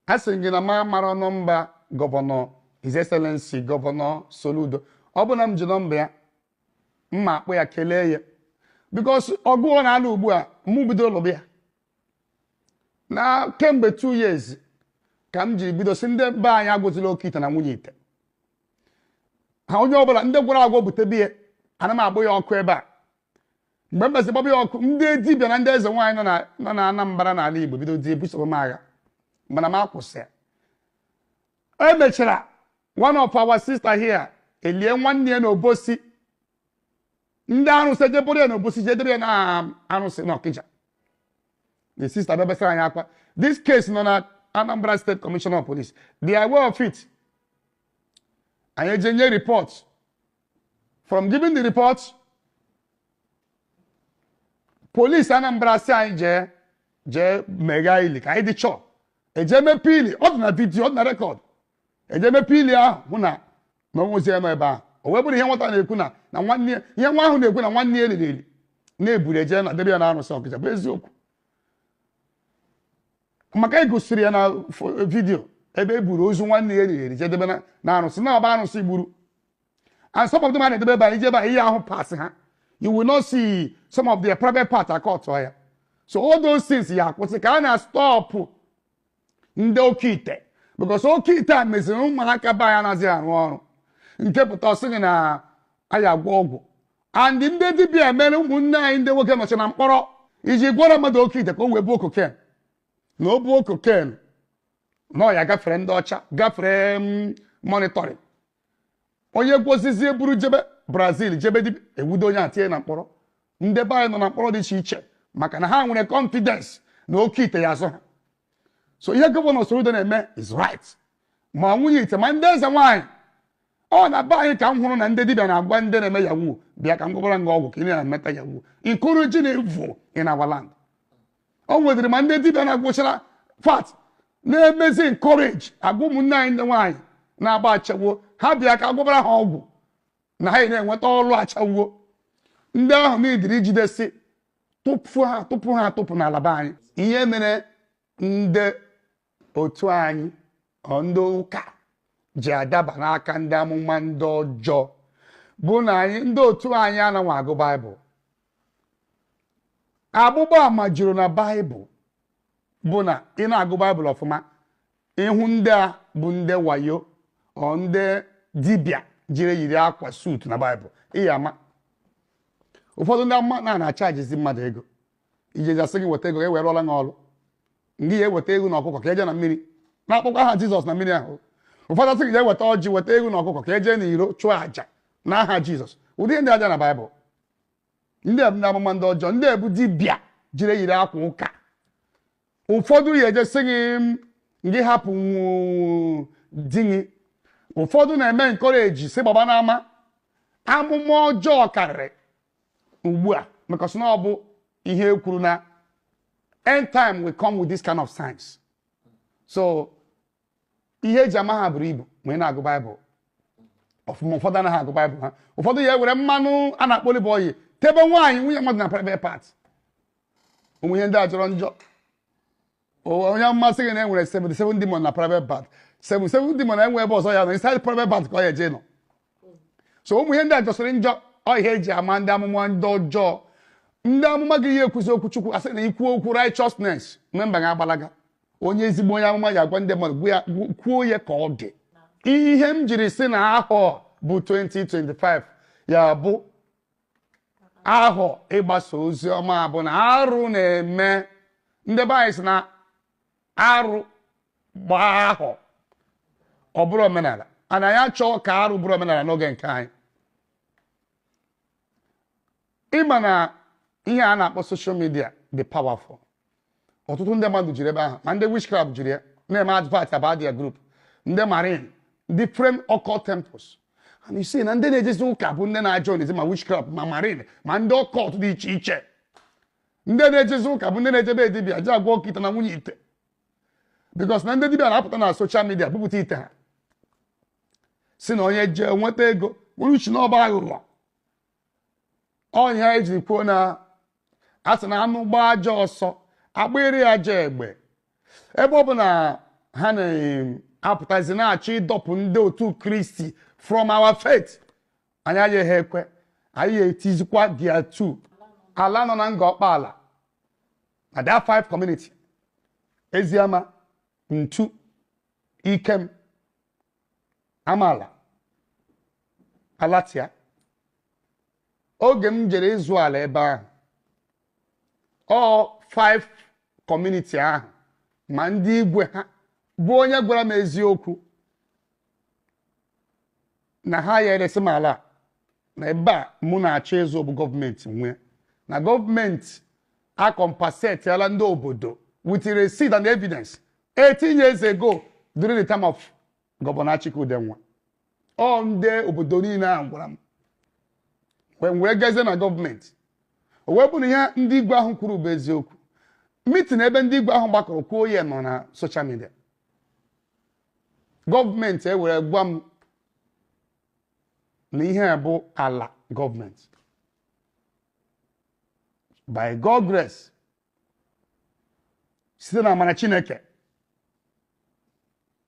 a sị gị na m amara nọmba gọvanọ His Excellency gọvanọ Soludo ọ bụ na m ji nọmba ya m ma akpọ ya kelee ya because ọgụ ọ na-alụ ugbu a mụ bido lụba ya na kemgbe 2 years ka m jiri bido sị ndị be anyị agwọzila oke ite na nwunye ite ha onye ọbụla ndị gwọrọ agwọ bute bịa ana m agba ya ọkụ ebe a mgbe m bịazị gbaba ya ọkụ ndị dibịa na ndị eze nwaanyị nọ na Anambra n'ala Igbo bidozie busoba m agha mana m akwụsị e mechara one of our sister here e lie nwanne ya na Obosi ndị arụsị je buru ya na Obosi je debe ya na arụsị na Ọkịja the sister bịa besara anyị akwa this case nọ na Anambra State Commissioner of Police they are aware of it anyị eje nye report from giving the report police Anambra sị anyị jee meghaa ili ka anyị dị sure e je mepe ili ọ dị na video ọ dị na record e je mepe ili ahụ hụ na na o nwezi ya nọ ebe ahụ o wee bụrụ ihe nwata na-ekwu na na nwanne ya ihe nwa ahụ na-ekwu na nwanne ya e liri eli na e buru eje na debe ya na arụsị Ọkịja bụ eziokwu maka e gosiri ya na fo- video ebe e buru ozu nwanne ya e liri eli je debe na- na arụsị na ọ bụ arụsị gburu and some of them a na-edebe ebe a i je ebe a ị ya-ahụ parts ha you will not see some of their private part akọtụọ ya so all those things ya-akwụsị ka a na-astọpụ ndị oke ite because oke ite a meziri ụmụaka be anyị anaghịzi arụ ọrụ nke pụta ọ sị gị na a ya-agwọ ọgwụ and ndị dibịa mere ụmụnne anyị ndị nwoke nọcha na mkpọrọ iji gwọrọ mmadụ oke ite ka o wee buo cocaine na o buo cocaine na ọ ya-agafere ndị ọcha gafere mm, monitoring onye gwọsịzie buru jebe Brazil jebe Libya e nwudo onye a tinye na mkpọrọ ndị be anyị nọ na mkpọrọ dị iche iche maka na ha nwere confidence na oke ite ya-azọ ha so ihe gọvanọ Soludo na-eme is right ma nwunye ite ma ndị eze nwaanyị ọ na be anyị ka m hụrụ na ndị dibịa na-agwa ndị na-eme yahoo bịa ka m gwọbara gị ọgwụ ka ị na-emeta yahoo encouraging evil in our land o nwedịrị ma ndị dibịa na-agwọchara fat na-emezi encourage agwa ụmụnne anyị ndị nwaanyị na-agba ashawo ha bịa ka a gwọbara ha ọgwụ na ha na-enweta ọrụ ashawo ndị ahụ needịrị ijidesi tụpụ ha tụpụ ha tụpụ n'ala be anyị ihe mere ndị otu anyị ọ ndị ụka ji adaba n'aka ndị amụma ndị ọjọọ bụ na anyị ndị otu anyị anaghị agụ baịbụl agbụgba ama juru na baịbụl bụ na ị na-agụ baịbụl ọfụma ị hụ ndị a bụ ndị wayo ọ ndị dibịa jiri yiri akwa suutu na baịbụl ị ya-ama ụfọdụ ndị amụma na na-achajizi mmadụ ego ijezi asị gị weta ego ka e wee rụọla gị ọrụ ngị ya eweta ego na ọkụkọ ka eje na mmiri na-akpọkwa aha jizọs na mmiri ahụ ụfọdụ asị gị je weta ọjị weta ego na ọkụkọ ka eje na iro chụọ àjà na aha jizọs ụdị ndị aja na baịbụl ndị a bụ ndị amụma ndị ọjọọ ndị a bụ dibịa jiri yiri akwa ụka ụfọdụ ya eje sị gị m, gị hapụ nwu- di gị ụfọdụ na-eme encourage sị gbaba n'ama amụma ọjọọ karịrị ugbu a because na ọ bụ ihe e kwuru na end time will come with this kind of signs so ihe eji ama ha buru ibu ma ị na-agụ baịbụl ọfụma ụfọdụ anaghị agụ baịbụl ha ụfọdụ ya ewere mmanụ a na-akpọ olive oil tebe nwaanyị nwunye mmadụ na private part ụmụ ihe ndị a jọrọ njọ onye amụma sị gị na e nwere 77 demon na private part 77 demon enwe ebe ọzọ ya nọ inside private part ka ọ ya eje nọ so ụmụ ihe ndị a jọsịrị njọ ọ ihe eji ama ndị amụma ndị ọjọọ ndị amụma agaghị ekwuzi okwu chukwu asị na ikwu okwu righteousness memba ga-agbalaga onye ezigbo onye amụma ya agwa ndị mmadụ kwuo ya ka ọ dị ihe m jiri sị na ahọ bụ 2025 ya bụ ahọ ịgbasa ozi ọma bụ na arụ na-eme ndị be anyị sị na arụ gbaa ahọ ọ bụrụ omenala and anyị achọghị ka arụ bụrụ omenala n'oge nke anyị ị ma na ihe a na-akpọ social media dị powerful ọtụtụ ndị mmadụ jiri ebe ahụ ma ndị witchcraft jiri ya na-eme advert about their group ndị marine different occult temples and you see na ndị na-ejezi ụka bụ ndị na-ajoinzi ma witchcraft ma marine ma ndị occult dị iche iche ndị na-ejezi ụka bụ ndị na-eje be dibịa ji agwọ okite na nwunye ite because na ndị dibịa na-apụta na social media bupụta ite ha sị na onye jee nweta ego nwere uche na ọ bụ aghụghọ ọ ya e jiri kwuo na a sị na anụ gbaa ajọ ọsọ agbịrị ajọ egbe ebe ọ bụ na ha na-apụtazi na-achọ ịdọpụ ndị otu kristi from our faith anyị agaghị ekwe anyị etizikwa dia tu ala nọ na ngor okpala na that five community eziama ntu ikem amala alatia oge m jere ịzụ ala ebe ahụ ọ five community ahụ ma ndị igwe ha bụ onye gwara m eziokwu na ha ya eresi m ala na ebe a mụ na-achọ ịzụ bụ gọọmenti nwe na gọọmenti akọmpensetiala ndị obodo with receipt and evidence 18 years ago during the time of Governor Achike Udenwa ọ ndị obodo niile a gwara m wee gazie na gọọmenti o wee bụrụ na ihe ndị igwe ahụ kwuru bụ eziokwu meeting ebe ndị igwe ahụ gbakọrọ kwuo ya nọ na social media gọọmenti ewere gwa m na ihe a bụ ala gọọmenti by God grace site na amara Chineke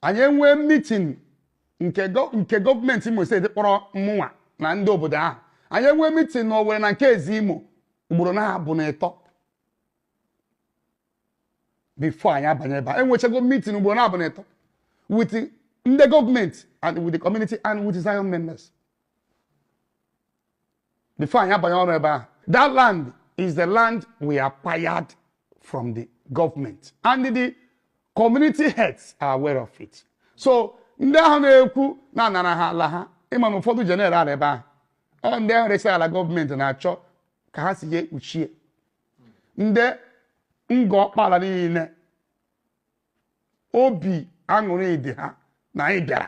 anyị enwee meeting nke gọ- nke gọọmenti Imo steeti kpọrọ mụnwa na ndị obodo ahụ anyị enwee meeting na Owerri na nke Eze Imo ugboro naabọ na ịtọ before anyị abanye ebe a enwechago meeting ugboro naabọ na ịtọ with ndị gọọmenti and with the community and with Zion members before anyị abanye ọrụ ebe a that land is the land we acquired from the government and the community heads are aware of it so ndị ahụ na-ekwu na a nara ha ala ha ị ma na ụfọdụ ndị na-ere ala ebe ahụ ọ ndị ahụ resịrị ala gọọmenti na-achọ ka ha si ya ekpuchie ndị Ngor Okpala niile obi aṅụrị dị ha na anyị bịara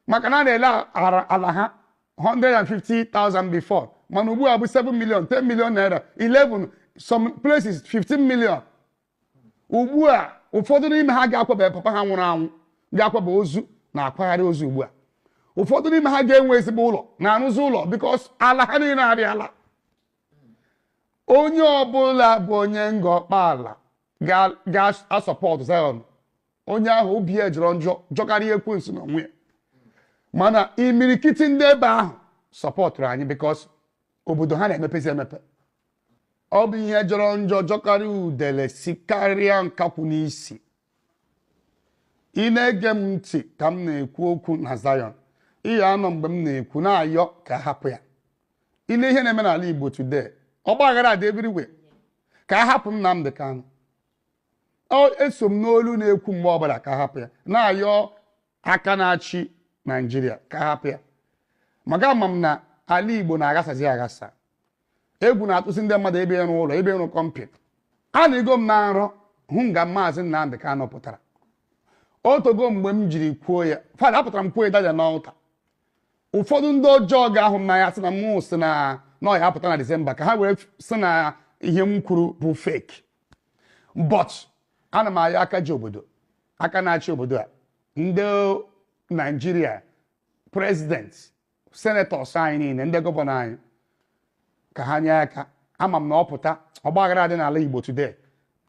maka na a na-ele ara- ala ha 150,000 before mana ugbu a bụ 7 million 10 million naira 11 some places 15 million ugbu a ụfọdụ n'ime ha ga-akwaba papa ha nwụrụ anwụ ga-akwaba ozu na-akwagharị ozu ugbu a ụfọdụ n'ime ha ga-enwe ezigbo ụlọ na-arụzi ụlọ because ala ha niile arịala onye ọbụla bụ onye Ngor Okpala ga-asọpọtụ Zion onye ahụ obi ya jọrọ njọ jọkarịa ekwensu na onwe ya mana imirikiti ndị ebe ahụ sọpọtụrụ anyị because obodo ha na-emepezi emepe ọ bụ ihe jọrọ njọ jọkarịa udele si karịa nkakwụ n'isi ị na-ege m ntị ka m na-ekwu okwu na Zion ihe anọ mgbe m na-ekwu na-ayọ ka a hapụ ya ị lee ihe na-eme n'ala Igbo today ọgba aghara adị everywhere ka a hapụ Nnamdị Kanụ eso m n'olu na-ekwu mgbe ọbụla ka a hapụ ya na-ayọ aka na-achị Naijiria ka a hapụ ya maka ama m na ala Igbo na-aghasazi aghasa egwu na-atụzi ndị mmadụ ebe ịrụ ụlọ ebe ịrụ company anọgo m na nrọ hụ nga maazị Nnamdị Kanụ pụtara o teego mgbe m jiri kwuo ya fada apụtara m kwuo ya daja n'altar ụfọdụ ndị ọjọọ ga-ahụ m n'anya sị na mụ sị na ọ ya-apụta na disemba ka ha wee sị na ihe m kwuru bụ fake but ana m ayọ aka ji obodo aka na-achị obodo a ndị naijiria president senators anyị niile ndị gọvanọ anyị ka ha nye aka ama m na ọ pụta ọgbaghara dị n'ala igbo today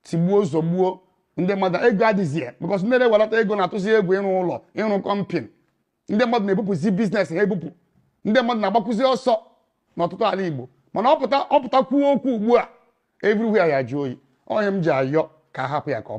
tigbuo zọgbuo ndị mmadụ ego adịzie because ndị na-ewelata ego na-atụzi egwu ịrụ ụlọ ịrụ kọmpin ndị mmadụ na-ebupụzi business ha ebupụ ndị mmadụ na-agbakwụzi ọsọ n'ọtụtụ ala Igbo mana ọ pụta kwuo okwu ugbu a everywhere ya-ajụ oyi ọ ihe m ji ayọ ka a hapụ ya ka ọ